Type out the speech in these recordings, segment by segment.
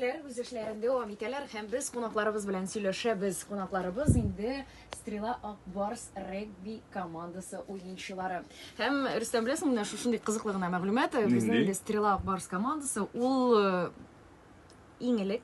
Егетләр үз эшләрен дәвам итәләр һәм без кунакларыбыз белән сөйләшәбез. Кунакларыбыз инде Стрела Акбарс регби командасы уенчылары. Һәм Рөстәм беләсең, менә шушындый кызыклы гына мәгълүмат, э, безнең Нинди? инде Стрела Акбарс командасы ул э, иң элек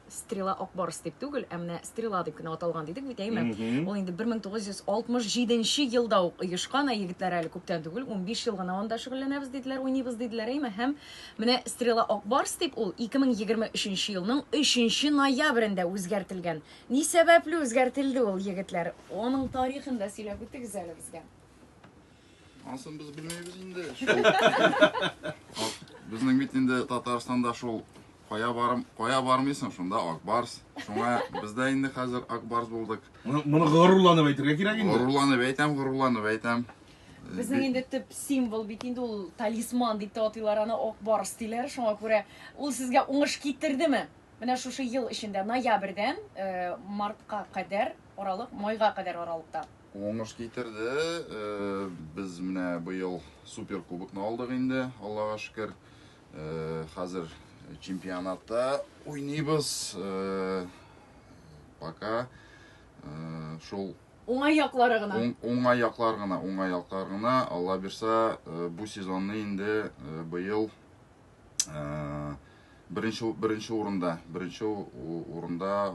Стрела Акбарс дип түгел, ә менә Стрела дип кенә аталган дидек бит, әйме? Мгм. Ул инде 1967 елда ук оешкан, ә егетләр әле күптән түгел, 15 ел гына анда шөгыльләнәбез диделәр, уйныйбыз диделәр, әйме? Һәм Менә Стрела Ак Барс дип ул 2023 елның 3 ноябрендә үзгәртелгән. Ни сәбәпле үзгәртелде ул, егетләр? Аның тарихын да сөйләп үтегез әле безгә. Анысын без белмибез инде. Безнең бит инде Татарстанда шул кая барым, кая бармыйсың, шунда Акбарс. Шуңа без дә инде хәзер Акбарс булдык. Моны горурланып әйтергә кирәк инде. Горурланып әйтәм, горурланып әйтәм. Безнең инде төп символ бит инде ул талисман дип тә атыйлар аны ак барс диләр. Шуңа күрә ул сезгә уңыш китердеме? Менә шушы ел эчендә ноябрьдән э, мартка кадәр аралык, майга кадәр аралыкта. Уңыш китерде. Э, без менә быел супер кубокны алдык инде, Аллага шөкер. Э, хәзер чемпионатта уйныйбыз. Э, пока э, шул Уңай яклары гына. Уңай яклар гына, уңай яклар гына. Алла бирса, бу сезонны инде быел беренче беренче урында, беренче урында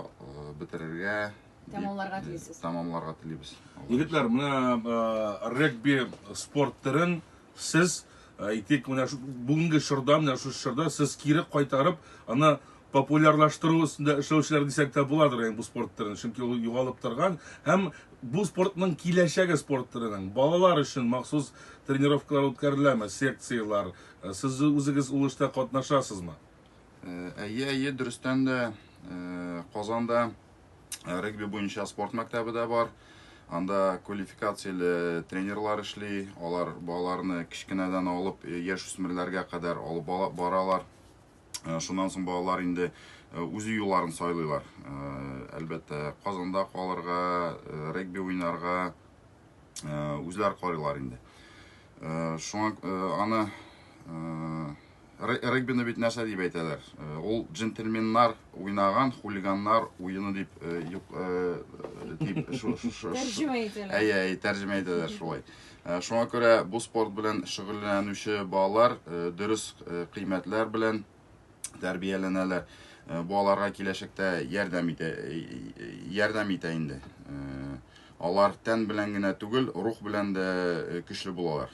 бетерергә тәмамларга телисез. Тәмамларга телибез. Егетләр, менә регби спорт төрен Сез, әйтик, менә шу- бүгенге чорда, менә шушы чорда сез кире кайтарып, аны популярлаштыру өстендә эшләүчеләр дисәк тә буладыр, ягъни бу спорт төрен, чөнки ул югалып торган һәм бу спортның киләчәге спорт төренең. Балалар өчен махсус тренировкалар үткәреләме, секцияләр? Э, Сез үзегез ул эштә катнашасызмы? Әйе, әйе, дөрестән дә Казанда регби буенча спорт мәктәбе дә бар. Анда квалификацияле тренерлар эшли, алар балаларны кечкенәдән алып яшь үсмерләргә кадәр алып баралар. Шуннан соң балалар инде үзе юлларын сайлыйлар. Әлбәттә, Казанда калырга, регби уйнарга үзләр карыйлар инде. Шуңа аны Регбины бит нәрсә дип әйтәләр? Э, ул джентльменнар уйнаган хулиганнар уены дип э, юк э, дип тәрҗемә итәләр. Әйе, әйе, тәрҗемә итәләр шулай. Шуңа күрә бу спорт белән шөгыльләнүче балалар дөрес кыйммәтләр белән тәрбияләнәләр. Бу аларга киләчәктә ярдәм итә ярдәм итә инде. Алар тән белән генә түгел, рух белән дә көчле булалар.